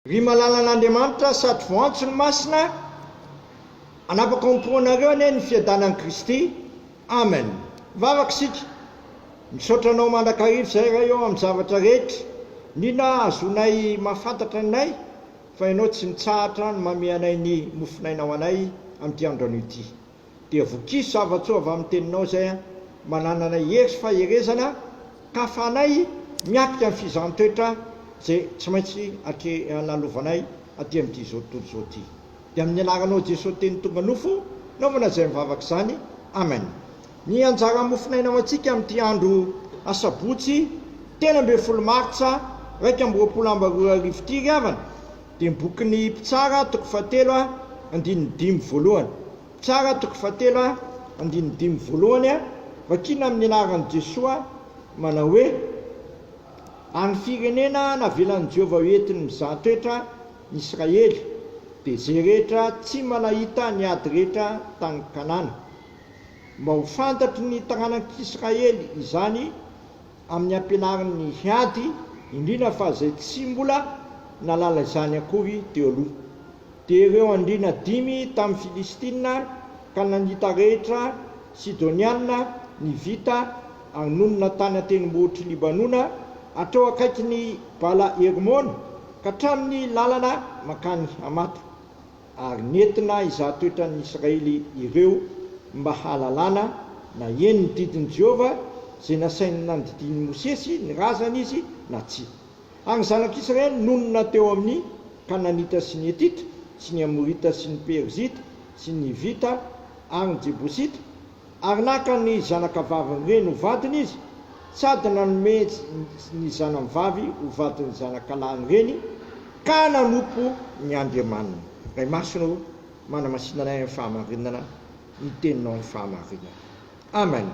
Ry malalan'Andriamanitra sady voantso ny Masina, anapaka ao am-poanareo anie ny fiadanan'i Kristy. Amen. Mivavaka isika. Misaotra Anao mandrakariva izay Ray ô amin'ny zavatra rehetra. Nina ah, azonay mahafantatra ny nay fa Ianao tsy mitsahatra ny mameanay ny mofon'aina ho anay amin'ity andro anio ity. Dia vokiso zava-tsoa avy amin'ny teninao izay an! Mananana hery sy faherezana ka fanahy miatrika ny fizahan-toetra izay tsy maintsy atrehana lovanay aty amin'ity izao tontolo izao ity. Dia amin'ny anaranao Jesoa Teny tonga nofo, naovana izay mivavaka izany. Amen. Ny anjara mofon'aina ho antsika amin'ity andro asabotsy telo ambin'ny folo martsa iraika amby roapolo amby roa arivo ity ry havana, dia ny bokin'ny Mpitsara toko fahatelo a, andininy dimy voalohany. Mpitsara toko fahatelo a, andininy dimy voalohany a, vakina amin'ny anaran'i Jesoa manao hoe, Ary firenena navelan'i Jehovah ho entiny mizaha toetra ny Israely, dia izay rehetra tsy manahita ny ady rehetra tany Kanana. Mba ho fantatry ny taranak'Israely izany amin'ny ampianarin'ny hiady, indrindra fa izay tsy mbola nahalala izany akory teo aloha. Dia ireo andriana dimy tamin'ny Filistina ka nangita rehetra Sidoniana ny vita ary nonina tany an-tendrombohitr'i Libanona, hatreo akaikin'i Bala-Hermona ka hatramin'ny lalana mankany Hamata. ary nentina hizaha toetra ny Israely ireo mba hahalalana na eny ny didin'i Jehovah izay nasainy nandidian'i Mosesy ny razany izy na tsia. Ary ny zanak'Israely nonina teo amin'ny Kananita sy ny Hetita sy ny Amorita sy ny Perizita sy ny Hivita ary ny Jebosita, Ary naka ny zanakavavin'ny reny ho vadiny izy, sady nanome ny zanany vavy ho vadin'ny zanakalahin'ny reny, ka nanompo ny Andriamaniny. Ray Masina ô, manamasina anay amin'ny fahamarinana ny Teninao amin'ny fahamarinana. Amen.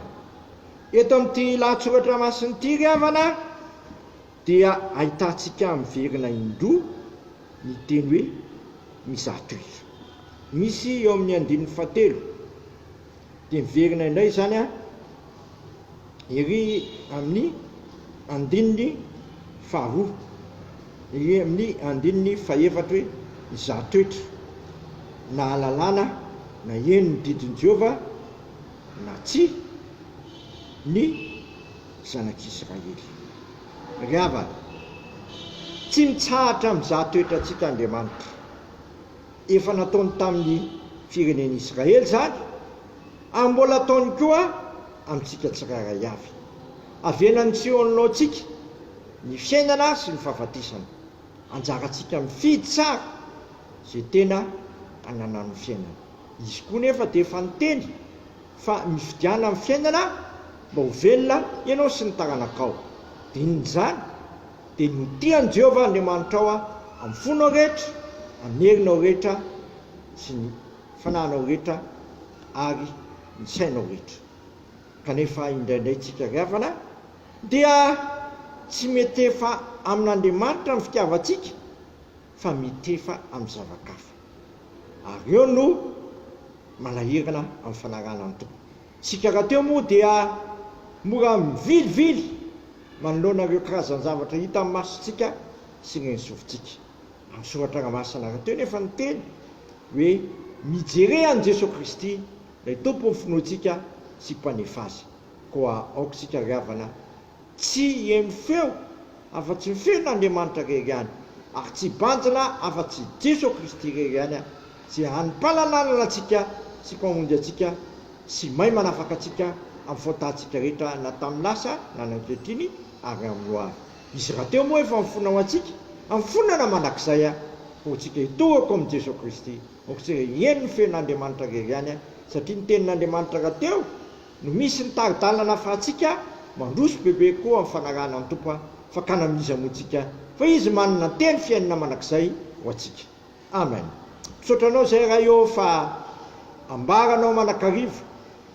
Eto amin'ity lahatsoratra masina ity, ry havana, dia ahitantsika miverina indroa ny teny hoe mizatoizo. Misy eo amin'ny andininy fahatelo. Dia miverina indray izany ery amin'ny andininy faharoa, ery amin'ny andininy fahefatra hoe, Izaho toetra, nahalalana, naheno ny didin'i Jehovah, na tsia, ny zanak'Israely. Ry havana, tsy mitsahatra mizaha toetra tsy hitan'Andriamanitra. Efa nataony tamin'ny firenen'i Israely izany, ary mbola ataony koa amintsika tsirairay avy. Avenan'i Tsiônilô antsika ny fiainana sy ny fahafatesana. Anjarantsika mifidy tsara izay tena ananan'ny fiainana. Izy koa nefa dia efa niteny fa mifidiana ny fiainana mba ho velona ianao sy ny taranakao. Dinin'izany Dia ny ho tian'i Jehovah Andriamanitrao amin'ny fonao rehetra, amin'ny herinao rehetra sy ny fanahinao rehetra ary ny sainao rehetra. Kanefa indraindray tsikariavana dia tsy mitefa amin'Andriamanitra ny fitiavantsika fa mitefa amin'ny zava-kafa. Ary eo no manahirana amin'ny fanarahana ny Tompo. Isika rahateo moa dia mora mivilivily manoloana ireo karazan-javatra hita amin'ny masontsika sy ireny sofintsika. Amin'ny soratra ra masina rahateo nefa ny teny hoe mijere an'i Jesoa Kristy ilay Tompon'ny finoantsika sy Mpanefa azy. Koa aoka isika ry havana Tsy heno feo afa-tsy ny feon' Andriamanitra irery ihany, ary tsy hibanjina afa-tsy i Jeso Kristy irery ihany aho, Izay hany Mpala lalana antsika sy Mpamonjy antsika, sy may manafaka antsika amin'ny faotantsika rehetra na tamin'ny lasa na ny ankehitriny ary amin'ny ho avy. Izy rahateo moa efa mifona ho antsika, mifonana mandrakizay aho, koa antsika hitohako amin'i Jeso Kristy, aoka isika hiheno ny feon' Andriamanitra irery ihany aho, satria ny tenin' Andriamanitra rahateo No misy ny tari-dalana nafahantsika mandroso bebe koa amin'ny fanarahana ny Tompo a! Fakana amin'iza moa tsika fa Izy manana ny teny fiainana manak'izay ho antsika. Amen! Misaotra anao izay Ray ô fa ambaranao manakariva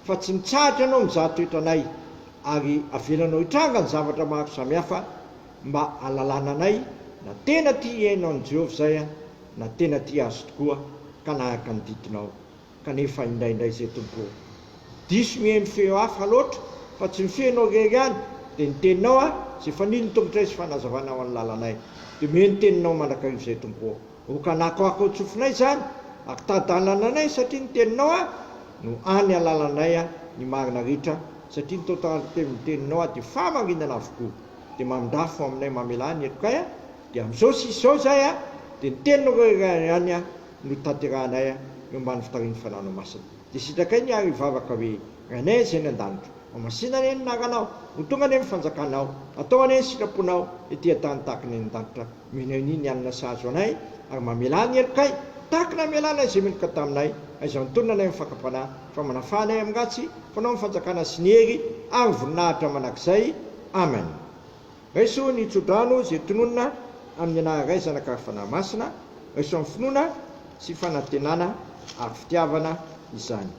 fa tsy mitsahatra ianao mizaha toetra anay ary avelanao hitranga ny zavatra maro samihafa mba halalana anay na tena tia hihaino an'i Jehovah izay a! na tena tia Azy tokoa ka nahaka ny didinao. kanefa indraindray izay tobo. Diso miheno feo hafa loatra fa tsy ny feonao irery ihany dia ny teninao a! izay fanilin'ny tongotray sy fanazavana ho an'ny lalanay dia omeo ny teninao mandrakariva izay tobo. Okanako ako ao tsofinay izany ary tadalananay satria ny teninao a! no any alalanay a! ny marina ritra satria ny totalin'ny teninao a! dia famarinana avokoa dia mamindrafo aminay mamelà ny helokay a! dia amin'izao sisa izao izahay a! dia ny teninao irery ihany a! notanterahanay eo ambany fitarian'ny Fanahinao Masina. Dia sitrakay ny ary hivavaka hoe, Rainay Izay any An-danitra, homasina anie ny anaranao, ho tonga anie ny fanjakanao, atao anie ny sitraponao ety an-tany tahaka ny any an-danitra, omena anie ny hanina sahaza anay, ary mamelà ny helokay, tahaka ny namelanay izay meloka taminay, aiza nitonona anay amin'ny fakam-panahy, fa manafà anay amin'ny ratsy, fanao ny fanjakana sy ny hery ary ny voninahitra manak'izay. Amen. Raiso ny tsodrano izay tononina amin'ny anaha-raizanaka ary fanahy masina, raiso amin'ny finoana sy fanantenana ary fitiavana izany.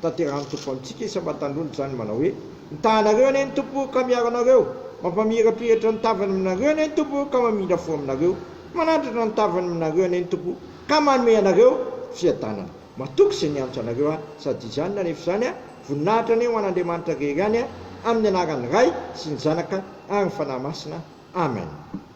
Tanterahan'ny Tompo amintsika isam-batandrony izany manao hoe, Mitaha anareo anie ny Tompo ka miaro anareo, mampamirapiratra ny tavany aminareo anie ny Tompo ka mamindra fo aminareo, manandrana ny tavany aminareo anie ny Tompo ka manome anareo fiadanana. Matoky izay niantso anareo aho, sady izany na rehefa izany aho, voninahitra anie ho an'Andriamanitra irery ihany aho, amin'ny anaran'ny Ray sy ny Zanaka ary ny Fanahy Masina. Amen.